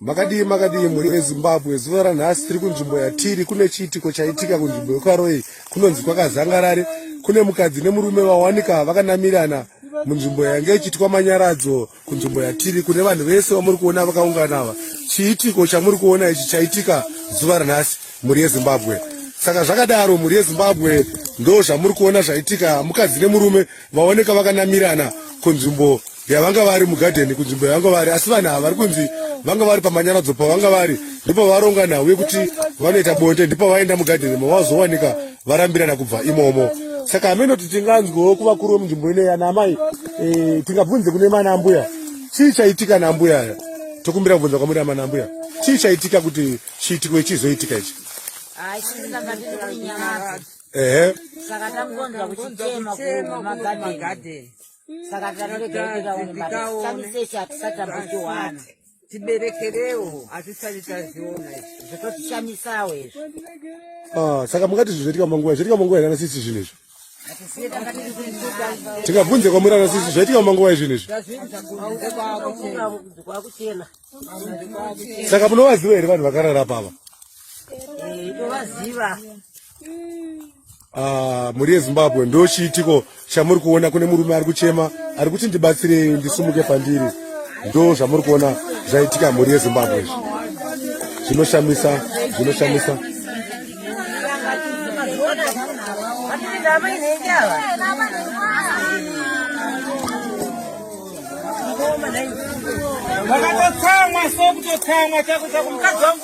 makadii makadii mhuri yezimbabwe zuva ranhasi tiri kunzvimbo yatiri kune chiitiko chaitika kunzvimbo yekwaroyi kunonzi kwakazangarare kune mukadzi nemurume vawanika vakanamirana munzvimbo yange ichiitwa manyaradzo kunzvimbo yatiri kune vanhu vese vamuri kuona vakaungana ava chiitiko chamuri kuona ichi chaitika zuva ranhasi mhuri yezimbabwe saka zvakadaro mhuri yezimbabwe ndo zvamuri kuona zvaitika mukadzi nemurume vaoneka vakanamirana kunzvimbo yavanga vari mugadheni kunzvimbo yavanga vari asi vanhu ava vari kunzi vanga vari pamanyaradzo pavanga vari ndipo varonga nhau yekuti vanoita bonde ndipo vaenda mugadheni mavazowanika varambirana kubva imomo saka hameno kuti tinganzwewo kuvakuru vemunzvimbo ineyi ana amai eh, tingabvunze kune mana ambuya chii chaitika naambuya aya tokumbira kubvunza kwamuri amana ambuya chii chaitika kuti chiitiko ichizoitika ichi ehe saka takuonza kuchitema kumagadheni saka tanoregerekeaonesamisese hatisati tambotiwana tiberekerewo hatisati taziona zvototishanyisawo izvo ah, saka mungati zvi zvoitika manguva zvoitika manguva here anasisi zvinhu izvo tingabvunze kwamuri anasisi zvaitika manguva izvinhu izvi saka munovaziva here vanhu vakarara pava eh, tovaziva Ah, mhuri yezimbabwe ndo chiitiko chamuri kuona kune murume ari kuchema ari kuti ndibatsirei ndisumuke pandiri ndo zvamuri kuona zvaitika mhuri yezimbabwe izvi zvinoshamisa zvinoshamisa vakatotsamwa so kutotsamwa chako chako mukadzi wangu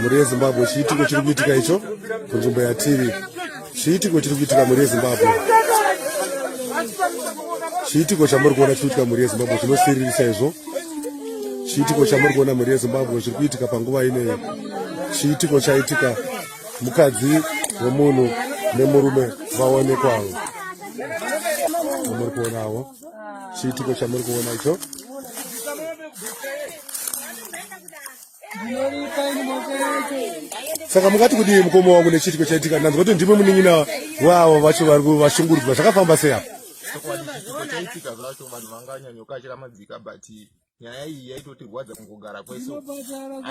mhuri yezimbabwe chiitiko chiri kuitika icho kunzvimbo yatiri chiitiko chiri kuitika mhuri yezimbabwe chiitiko chamuri kuona chiri kuitika mhuri yezimbabwe chinosiririsa izvo chiitiko chamuri kuona mhuri yezimbabwe chiri kuitika panguva ineyi chiitiko chaitika mukadzi wemunhu nemurume vaonekwavo amuri kuonawo chiitiko chamuri kuona icho saka mukati kudii mukoma wangu nechiitiko chaitika ndanzwa kuti ndimwe munin'ina wavo vacho vari vashungurudzwa zvakafamba sei apa chaitika zvacho vanhu vanganyanyokashira madzika but nyaya iyi yaitotirwadza kungogara kweso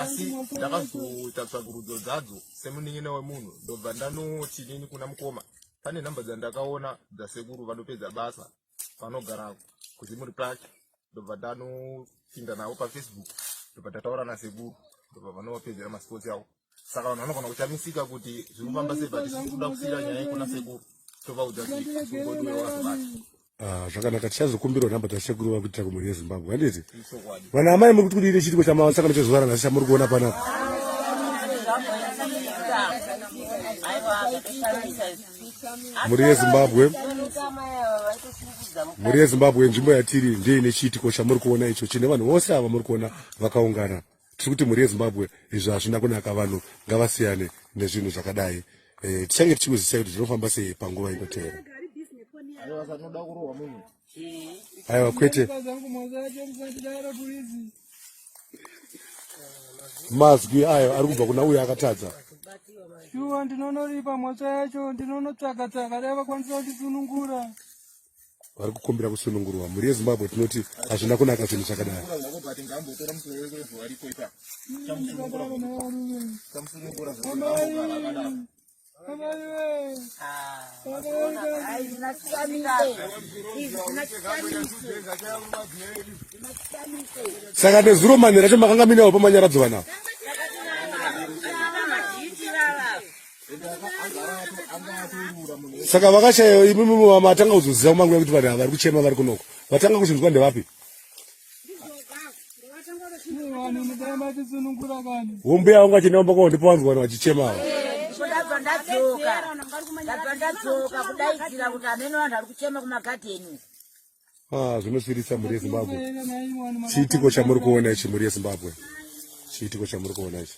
asi ndakazoita tsvakurudzo dzadzo semunin'ina wemunhu ndobva ndanoti nini kuna mukoma pane nhamba dzandakaona dzasekuru vanopedza basa vanogara kuzimuri pake ndobva ndanopinda navo pafacebook ndobva ndataura nasekuru ndobva vanovapedzera masports avo saka vanhu vanogona kushamisika kuti zviri kufamba sei but tikuda kusiyira nyaya ikuna sekuru tovaudza zvigodwewazivacho Ah, zvakanaka tichazokumbirwa nhamba dzashekuru vari kuitira kumhuri yezimbabwe handiti vana amai muri kuti kudii nechiitiko chamasangano chezuva ranhasi chamuri kuona pana mhuri yezimbabwe mhuri yezimbabwe nzvimbo yatiri ndeye nechiitiko chamuri kuona icho chine vanhu vose ava muri kuona vakaungana tiri kuti mhuri yezimbabwe izvo hazvina kunaka vanhu ngavasiyane nezvinhu zvakadai eh, tichange tichikuzisai kuti zvinofamba sei panguva inoteera aiwa kwete mazwi ayo ari kubva kuna uyo akatadza shuwa ndinonoripa mhosva yacho ndinonotsvaka tsvaka dai vakwanisa kundisunungura vari kukumbira kusunungurwa mhuri yezimbabwe tinoti hazvina kunaka chinhu chakadai saka nezuro manhi racho makanga minawo pamanyaradzwa navo saka vakashaya imimi matanga kuzoziva kumanguya kuti vanhu vari kuchema vari kunoko vatanga kuzvinzwa ndevapi hombe yavo ngachinamba kwaondipa vanhu vanhu vachichemawa ah, zvinosvirisa mhuri yezimbabwe chiitiko chamuri kuona ichi mhuri yezimbabwe chiitiko chamuri kuona ichi